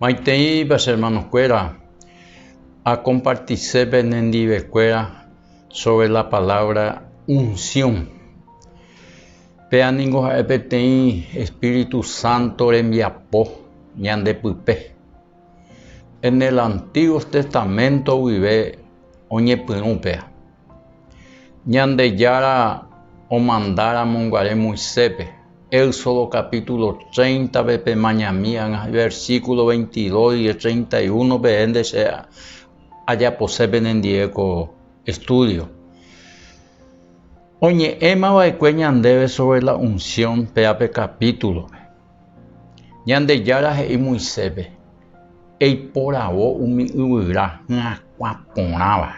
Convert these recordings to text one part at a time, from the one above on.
Maiteipa che hermanokuéra, akompartise penendivekuéra sóvre la palávra unsión. Péa ningo ha'e peteĩ espíritu sánto rembiapo ñande pype. En el Antiguo Testamento guive oñepyrũ péa. Ñandejára omanda ramonguare Moisépe, Éxodo capítulo treinta-pe pemañami ág̃a iversículo veintidós y treinta y uno peẽnde che ajapose penendie ko estudio. Oñe'ẽmava'ekue ñandéve sobre la unción péape capítulo-pe. Ñandejára he'i Moiséspe, Eiporavo umi yvyra hyakuã porãva.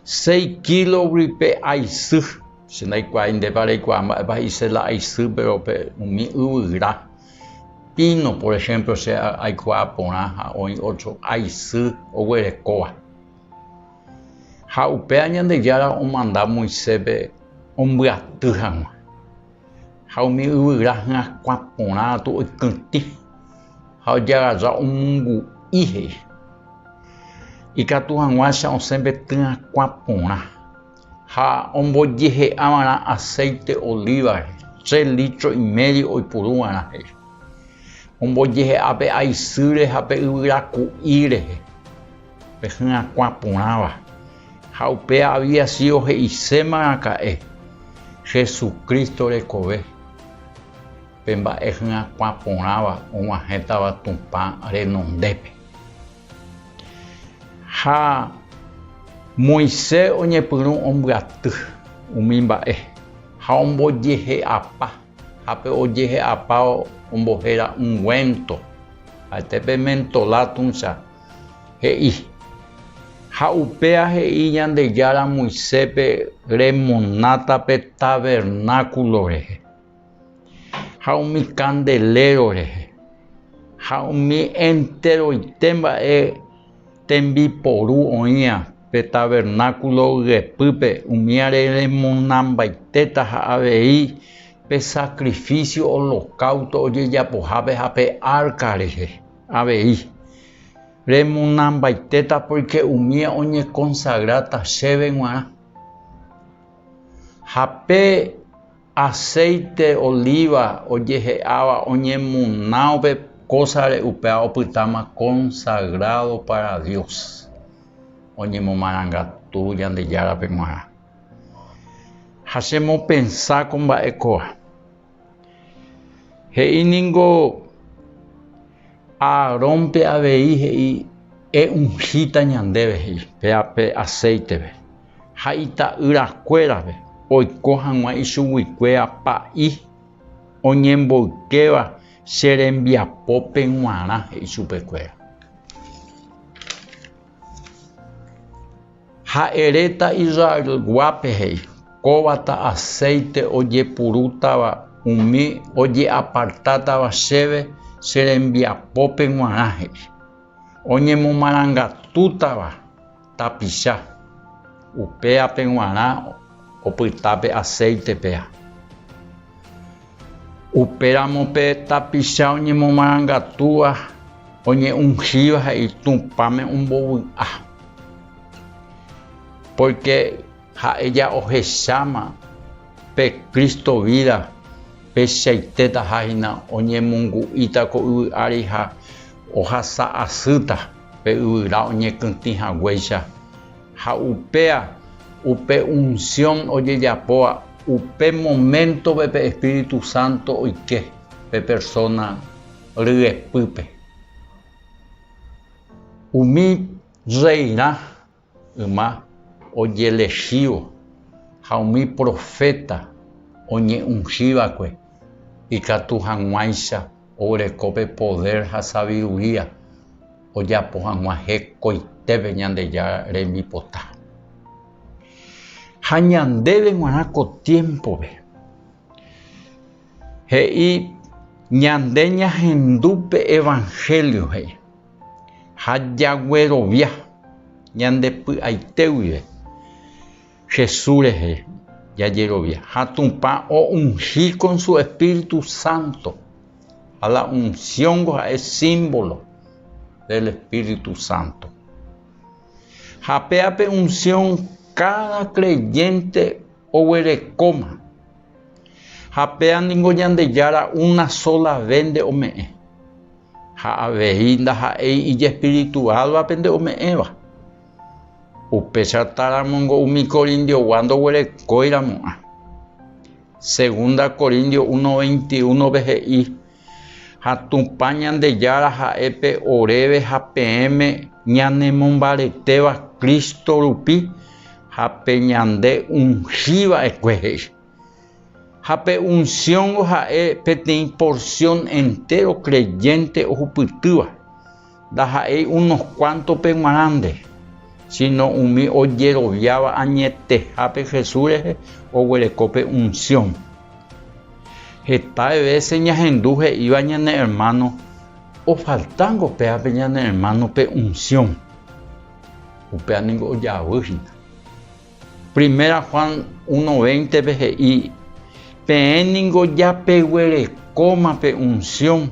Seis kílo guype aisy, che ndaikuaái ndépa reikuaa mba'épa he'i sela aisy, péro pe umi yvyra píno, por ehémplo, che aikuaa porã ha oĩ ótro aisy oguerekóva. Ha upéva Ñandejára omanda Moiséspe ombyaty hag̃ua. ha umi yvyra hyakuã porã gatu oikytĩ ha ojagaja omongu'i he'i. Ikatu hag̃uáicha osẽ pe tyakuã porã ha ombojehe'a va'erã aséite olívare tre lítro imédio oipuru va'erã he'i. Ombojehe'a pe aisýre ha pe yvyra ku'i rehe pe hyakuã porãva. Ha upe aviasio he'iséma raka'e Jesucristo rekove, pe mba'e hyakuã porãva og̃uahẽtava Tupã renondépe. Ha Moisés oñepyrũ ombyaty umi mba'e, ha ombojehe'apa, ha pe ojehe'apáva ombohéra ungüento, ha'ete pe mentolá tuicha. He'i. Ha upéa he'i Ñandejára Moisépe remonáta pe tavernákulo rehe, ha umi kandeléro rehe, ha umi enteroite mba'e tembiporu oĩva pe tavernákulo yepýpe, umíare remonambaitéta ha avei pe sakrifísio olokausto ojejapohápe ha pe árka rehe. Avei, remonambaitéta pórke umi oñekonsagráta chéve g̃uarã. Ha pe aséite olíva ojehe'áva oñemona upe kósare upéva opytáma konsagrádo pára Dios, oñemomarangatu Ñandejárape g̃uarã. Ha chemopensa ko mba'e kóva. He'i ningo Aarónpe avei he'i, E'unhíta ñandéve, he'i, pe aséitepe, ha ita'yrakuérape oiko hag̃ua ichuguikue apa'i oñemboykéva che rembiapópe g̃uarã, he'i chupekuéra. Ha'e reta Israelguápe he'i, Kóva ta aséite ojepurútava umi oje'apartátava chéve che rembiapópe g̃uarã he'i, oñemomarangatútava tapicha, upéape g̃uarã opyta pe aséite péa. Upéramo pe tapicha oñemomarangatúva oñe'ũhíva ha Itũpáme ombovy'a. Pórke ha'e ja ohecháma pe Cristo vída peichaitétaha hína oñemongu'íta ko yvy ári ha ohasa asýta pe yvyra oñekytĩ haguéicha. Ha upéa, upe unsión ojejapóva upe moméntove pe espíritu sánto oike pe persóna ryepýpe. Umi rreirã yma ojelechívo ha umi proféta oñe'ũhívakue ikatu hag̃uáicha oguereko pe podér ha saviduría. ojapo hag̃ua hekoitépe Ñandejára rembipota. Ha ñandéve g̃uarã ko tiémpove, he'i ñande ñahendu pe Evanhélio he'i, ha jaguerovia ñande py'aite guive Jesús rehe jajerovia, ha Tupã o'unhi kon su Espíritu Santo. Ha la unsiónko ha'e símbolo del Espíritu Santo. Ha péape unsión káda kreyénte oguerekóma. Ha péa ningo Ñandejára una sóla ve nde ome'ẽ. Ha avei ndaha'éi ijespirituálvape nde ome'ẽva. Upéichatáramo ningo umi Corintiogua ndoguerekóiramo'ã. Segunda Corintios 1, 21-pe he'i, Ha Tupã Ñandejára ha'e pe oréve ha peẽme ñanemombaretéva Cristo rupi ha pe ñande ungi va'ekue he'i. Ha pe unsióngo ha'e peteĩ porsión entéro kreyénte ohupytýva. Ndaha'éi unos kuántope g̃uarãnte, síno umi ojeroviáva añetehápe Jesús rehe oguereko pe unsión. Heta vése ñahendu he'íva ñane ermáno, Ofaltángo péape ñane ermáno pe unsión. Upéva ningo ojavy hína. Primera Juan uno véintepe he'i, Peẽ ningo japeguerekóma pe unsión.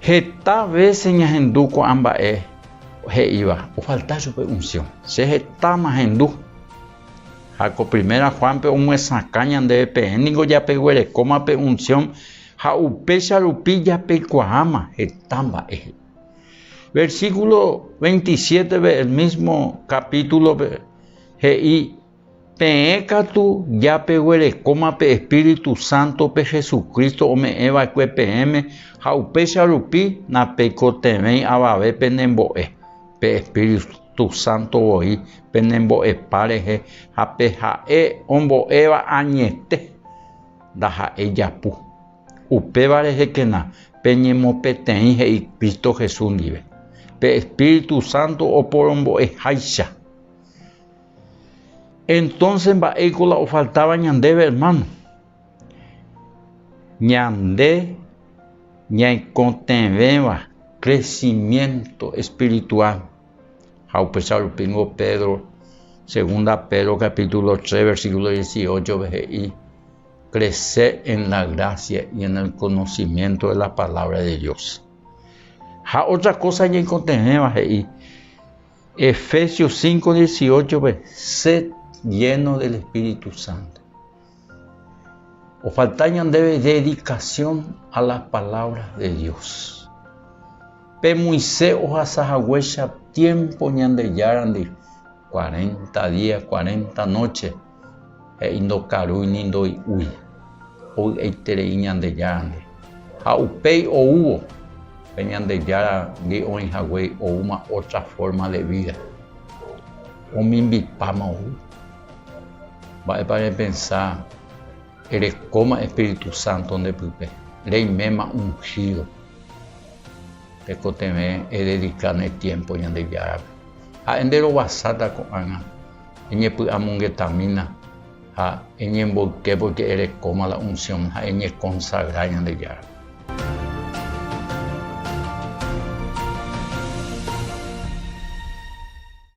Heta vése ñahendu ko'ã mba'e he'íva, ofalta chupe unsión. Che hetáma ahendu. Ha ko Primera Juánpe omyesakã ñandéve peẽ ningo japeguerekóma pe unsión ha upéicha rupi japeikuaáma heta mba'e he'i. Versíkulo veintisiétepe el mísmo kapítulope he'i Peẽ katu japeguerekóma pe Espíritu Sántope Jesucristo ome'ẽ va'ekue peẽme ha upéicha rupi napeikotevẽi avave pene mbo'e, pe Espíritu Sánto voi pene mbo'epa rehe ha pe ha'e ombo'éva añete ndaha'éi japu. Upéva rehekena peñemopeteĩ he'i Cristo Jesús ndive, pe Espíritu Sánto oporombo'eháicha. Entonces mba'éiko la ofaltáva ñandéve, hermano? Ñande ñaikotevẽva crecimiento espiritual. Ha upéicha rupíngo Pedro, segunda Pedro capítulo 3 versículo 18-pe he'i, Crece en la gracia y en el conocimiento de la palabra de Dios. Ha otra cosa ñaikotevẽva he'i, Efesios 5, 18-pe, Sed llenos del Espíritu Santo. Ofalta ñandéve dedicación a las palabras de Dios. Pemoise ohasa haguéicha tiempo Ñandeyárandi, cuarenta días, cuarenta noches, He'i, Ndokarúi ni ndoi'úi, ovy'aiterei Ñandejárandi. Ha upéi oúvo, pe Ñandejárandi oĩ haguéi oúma ótra fórma de vída. Omimbipáma ou. Mba'épa repensa erekóma espíritu sánto nde pype, reiméma unhído. Tekotevẽ ededika ne tiémpo Ñandejárape. Ha'e nderovasáta ko'ág̃a Eñepy'amongetamína ha eñemboyke pórke erekóma la unsión ha eñekonsagra Ñandejárape.